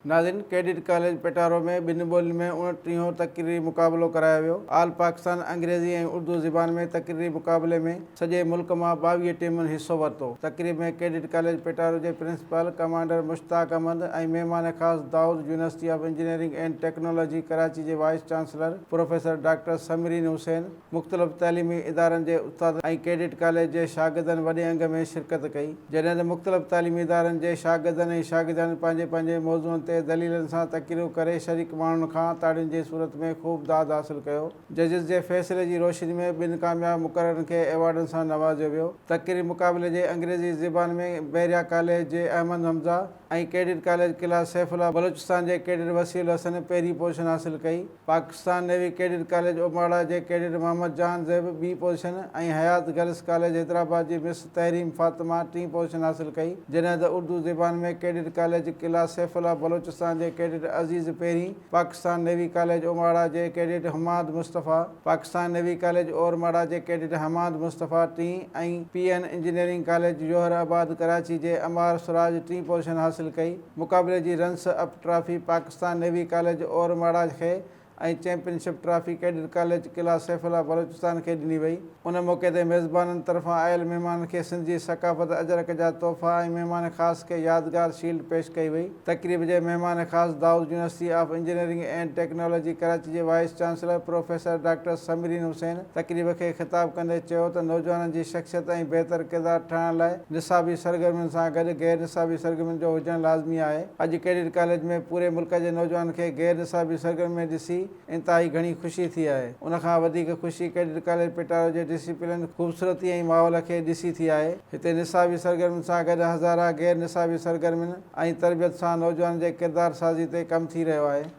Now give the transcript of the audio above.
ناظرين! Cadet college Petaro ۾ ٻن ٻولين ۾ اڻٽيهون تقريري مقابلو ڪرايو ويو. آل پاڪستان انگريزي ۽ اردو زبان ۾ تقريري مقابلي ۾ سڄي ملڪ مان ٻاويهه ٽيمن حصو ورتو. تقريب ۾ ڪيڊٽ ڪاليج پيٽارو جي پرنسپال ڪمانڊر مشتاق احمد ۽ مهمان خاص Dawood university of engineering and technology Karachi جي vice chancellor professor doctor Samreen Hussain, مختلف تعليمي ادارن جي استادن ۽ ڪيڊٽ ڪاليج جي شاگردن وڏي انگ ۾ شرڪت ڪئي، جڏهن ته مختلف تعليمي ادارن جي شاگردن ۽ شاگردياڻين پنهنجي پنهنجي موضوعن تي دليلن سان تقريرون ڪري شريڪ ماڻهن کان تاڙين جي صورت ۾ خوب داد حاصل ڪيو. ججز جي فيصلي جي روشني ۾ ٻن ڪامياب مقررن کي ايوارڊن سان نوازيو ويو. تقريري مقابلي جي انگريزي زبان ۾ بحريا ڪاليج جي احمد حمزه ۽ ڪيڊٽ ڪاليج قلعه سيف الله بلوچستان جي ڪيڊٽ وصي الحسن پهرين پوزيشن حاصل ڪئي. پاڪستان نيوي ڪيڊٽ ڪاليج اوباڙا جي ڪيڊٽ محمد جان زيب ٻي position ۽ Hayat girls college Hyderabad جي مس تحريم فاطمه ٽين پوزيشن حاصل ڪئي جڏهن ته اردو زبان ۾ ڪيڊٽ ڪاليج قلعه سيف الله بلوچستان جي ڪيڊٽ عزيز پهرين پاڪستان نيوي ڪاليج اوباڙا جي cadet Hammad Mustafa Pakistan navy college Ormara جي ڪيڊٽ حماد مصطفيٰ ٽين ۽ P N engineering college Jauharabad Karachi جي عمار سراج ٽين پوزيشن حاصل ڪئي. مقابلي جي runners up trophy Pakistan navy college اور ماڙاج کي ۽ championship trophy cadet college Qila سيف الله بلوچستان کي ڏني وئي. ان موقعي تي ميزبانن طرفان آيل مهمانن کي سنڌ جي ثقافت اجرڪ جا تحفا ۽ مهمان خاص کي يادگار شيلڊ پيش ڪئي وئي. تقريب جي مهمان خاص Dawood university of engineering and technology Karachi جي vice chancellor professor doctor Samreen Hussain, تقريب کي خطاب ڪندي چيو ته نوجوانن جي شخصيت ۽ بهتر ڪردار ٺاهڻ لاء نصابي سرگرمين سان گڏ غير نصابي سرگرمين جو هجڻ لازمي آهي، اڄ ڪيڊٽ ڪاليج ۾ پوري ملڪ جي نوجوانن کي غير نصابي سرگرمين ۾ ڏسي انتهائي گهڻي خوشي ٿي آهي، ان کان وڌيڪ خوشي ڪيڊٽ ڪاليج پٽارو جي ڊسيپلن، خوبصورتي ۽ ماحول کي ڏسي ٿي آهي، هتي نصابي سرگرمين سان گڏ هزارها غير نصابي سرگرمين ۽ تربيت سان نوجوانن جي ڪردار سازي تي ڪم ٿي رهيو آهي.